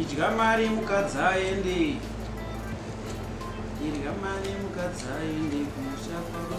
irya mari mukadzi aende irya mari mukadzi aende kumusha kwavo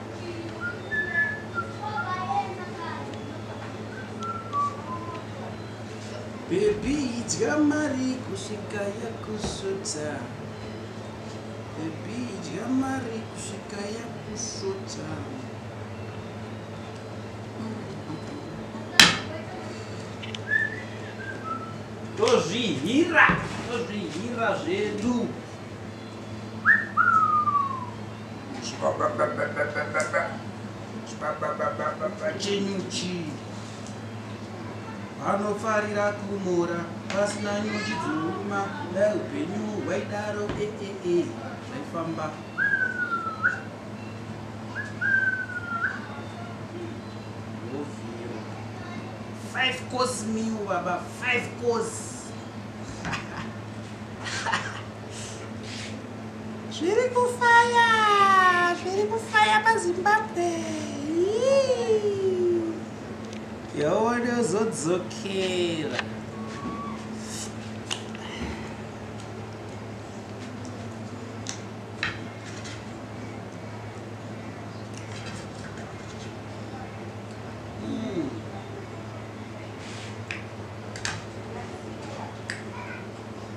Baby idya mari kusvika yakusvota Baby idya mari kusvika yakusvota Tozvihira, tozvihira zvedu chenyuchi vanofarira kumora pasina nyuchi dzouma dai upenyu hwaidaro eee zvaifamba five course meal baba five course Zviri kufaya, zviri kufaya paZimbabwe. Yawone uzodzokera.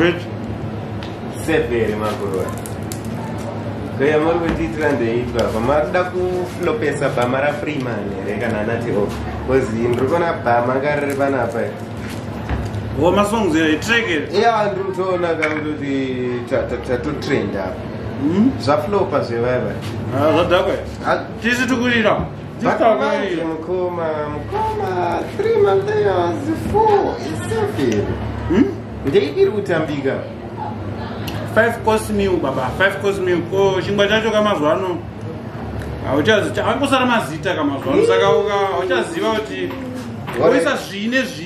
Rich. Severe makuroa. Kaya muri kuitira ndeitwa pamakuda kuflopesa bhama rafreeman here kana anati o bcause ndiri kuona bhama nga riri panapa Wo masongs here, track here. ya ndiri kutoona kakutoti tatotrenda apa Hmm? zvaflopa zvevaiva ah, zvadhakwa ah. tisi tikurira Batamanje mukoma mukoma 3 months 4 7 hmm? ndeidiri kutambika 5 course meal baba 5 course meal ko chingwa chacho kamazuva ano hauchazita angosara mazita kamazuva ano saka uka hauchaziva kuti oisa zvine zvi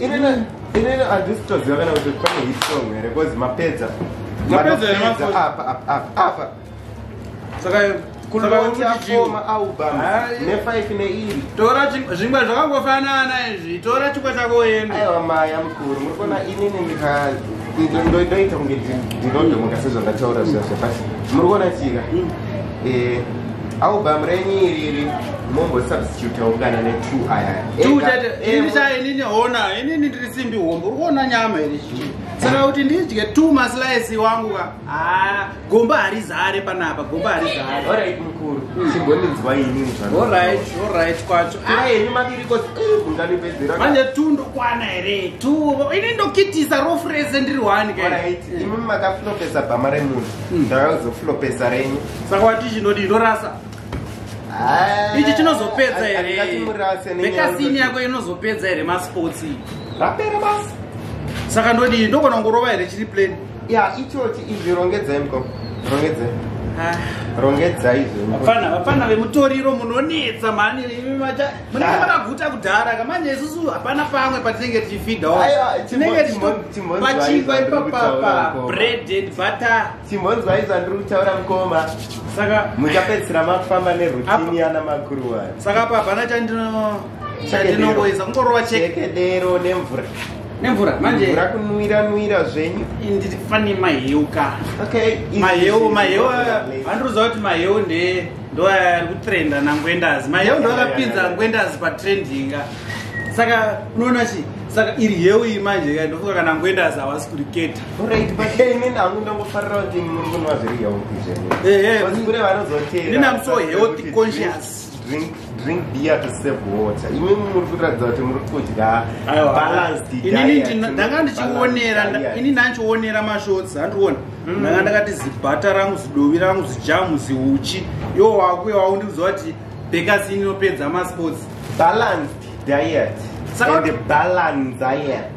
inini handisi toziva kana kuti pane hit song here bcause mapedza apa saka kunovautiakoma album nefive neiri tora zvingwa zvakangofanana izvi tora chikwa chako uende aiwa maya mukuru muri kuona inini ndika ndoita kunge ndinodomoka sezvandataura zviya zvepasi muri kuona tsika mm. eh, Album renyi iriri mombo substitute ungana ne two aya. Two tete ini cha ini ni hona ini ni ndiri simbi hombo uona nyama iri chii. Saka kuti ndidye two maslice wangu ka. Ah gomba harizare panapa gomba harizare. All right mkuru. Hmm. Simbo ni nzwa ini nzwa. All right all right kwacho. Ah ini mabiri ko ungani pedzera. Manje two ndo kwana here. Two ini ndo kitisa ro phrase ndiri one ka. All right. Hmm. Imi makaflopesa bamare munhu. Hmm. Ndakazoflopesa renyi. saka wati chinodi inorasa ah, ichi chinozopedza here mekasini yako inozopedza here masports rapera basi saka ndodii ndogona kungorova here chiri plane ya ichochi izvi rongedzai mko rongedzai ah. rongedzai zvapana vapana vemutoriro munonetsa mhani munenge ah. makaguta kudhara kamanje isusu hapana pamwe patinenge tichifidhawo tinenge tichipachingwa ipapapa bread and butter Simonzwa izva ndiri kutaura mukoma. Saka muchapedzisira makufamba nerutini yana makuruwa. Saka hapa hapana chandino chandinongoisa kungorova chekedero nemvura. Nemvura manje mvura kunwira nwira zvenyu. Ndiri fani maheu ka. Okay. Maheu maheu andiruza kuti maheu nde ndo ari kutrenda nangwendazi. Maheu ndo akapinza ngwendazi pa trendinga. Saka unoona chi saka iri heu iyi manje ndofunga kana ngwendazi hawasi kuriketa. Alright, but hey, nini hangu ndangofarira kuti muri kunwa zviri healthy zvenu. Eh, eh, But kune vanozotera. Nini I'm so kuti healthy drink- conscious. Drink, drink beer to save water. Imi muri kuratidza kuti muri kudya Aiwa. balanced Inini diet, ndina- not ndanga ndichionera balanced nda- diet. ini ndandichionera mashorts handiona ndanga ndakati zibhata rangu zidovi rangu zijamu ziuchi iwo wakuya waundiudza kuti bekasi ini inopedza masports Balanced diet. Saka- And balanced diet.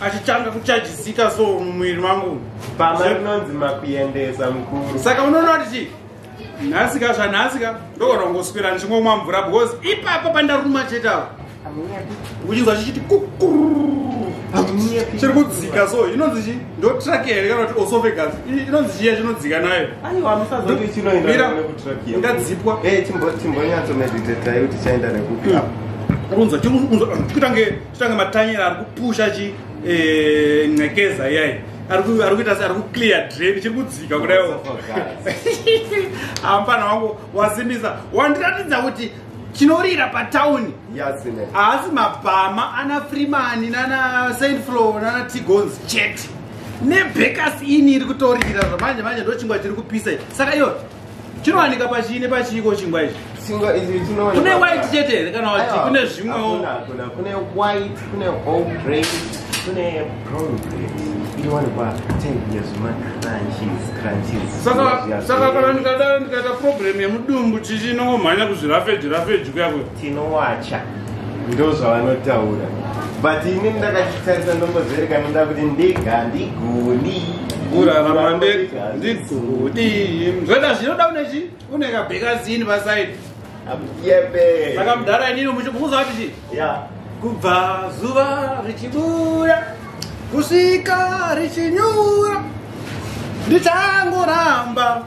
achitanga kuchajisika so mumwiri mangu pamainonzi makuendesa mukuru saka unoona kuti chii nhasi ka zvanhasi ka ndogona kungoswera ndichingomwa mvura because ipapo pandaruma chete avo uchinzwa chichiti chiri kudzika so inonzi chi ndo traki here kana kuti osovegas inonzi chiya chinodzika nayo ingadzipwa eh, chimbonyatso meditatai kuti chaenda nekupi hmm. unzwa chikuita nge Tanga matanyera ari kupusha chi eh ngekeza yai. Ari ku ari kuita ari ku clear drain chiri kudzika kudaiwo. Ampana wangu wasimbisa. Wandiratidza kuti chinorira patown haasi mabhama ana freeman nana saint flo nana tigons chete nebekas ini iri kutorira zvamanje manje ndochingwa chiri kupisa saka iyo chinowanika pachii nepachiiko chingwa ichi chingwa ichi chinowanika kune white chete here kana wati kune zvimwewo hakuna kune white kune all grain kune brown grain inowanikwa tenguya zvemacrunches crunches saka saka kana ndikadaro ndikaita problem yemudumbu chichi inongomhanya kuzvirafeji rafeji kuya kuya tinowacha ndozvavanotaura but ini ndakachitarisa ndombozerekana ndoda kuti ndega ndigoni kurarama ndega ndigoni zvoita zvinoda une chi une kabhekazini pasaidi yebe saka mudhara inini muchimukuza vati chi kubva zuva richibuda kusvika richinyura ndichangoramba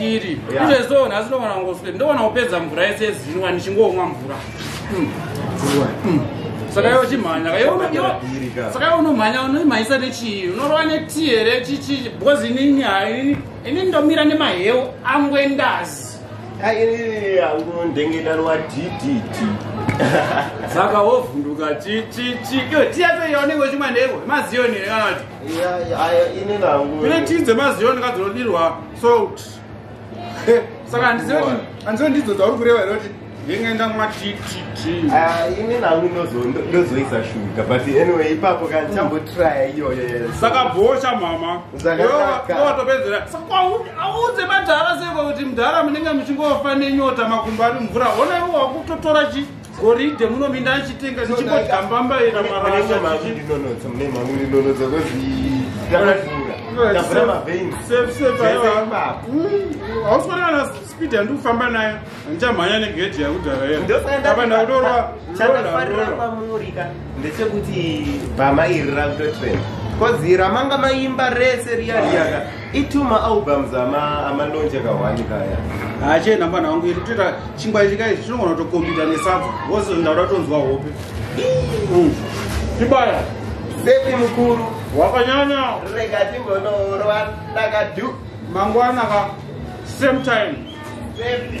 iri izvezvo nhasi ndovana ngoswe ndovana kupedza mvura yese yezinwa ndichingomwa mvura hmm. Hmm. saka iwe chimhanya saka iwe unomhanya unoimhanyisa nechii unorova netii here chichii because inini haini ini ndomira nemaheu angwe ndazi angondengedarwa ddt saka wovhunduka chichichi iyo tiya toyaonenge uchimwa ndevo maziyoni here kana kuti ine tii dzemaziyoni kadzinodirwa salt eh, saka handizive handizive ndidzo dzauri kureva here kuti yenge ndamwa tititi ah, ini nangu ndozoisa shuga but anyway ipapo ka ndichambotrya iyoyo yes saka bhosha mama watopedzera saka audze madhara seko kuti mdhara munenge muchingofa nenyota makumbo ari mvura hona iwo wakutotora chii goridhe muno minda achitenga ndichibodya mbamba ina maraainonodza kwezihausifanana na speed yandi kufamba nayo ndichamhanya negedhi yakudhara yeaaaaaamurika ndechekuti bhama iri rakutotrend kozi ramanga maimba rese riya riyaka Itu ma albums ama ama launch akawani kaya. Ache namba nangu iri tuta chingwa ichi kai chinogona to compete ne sub. Wose ndaura tonzwa hope. Tibaya. Sepi mukuru. Wakanyanya. Rega timbono rwa ndakadu. Mangwana ka same time. Sepi.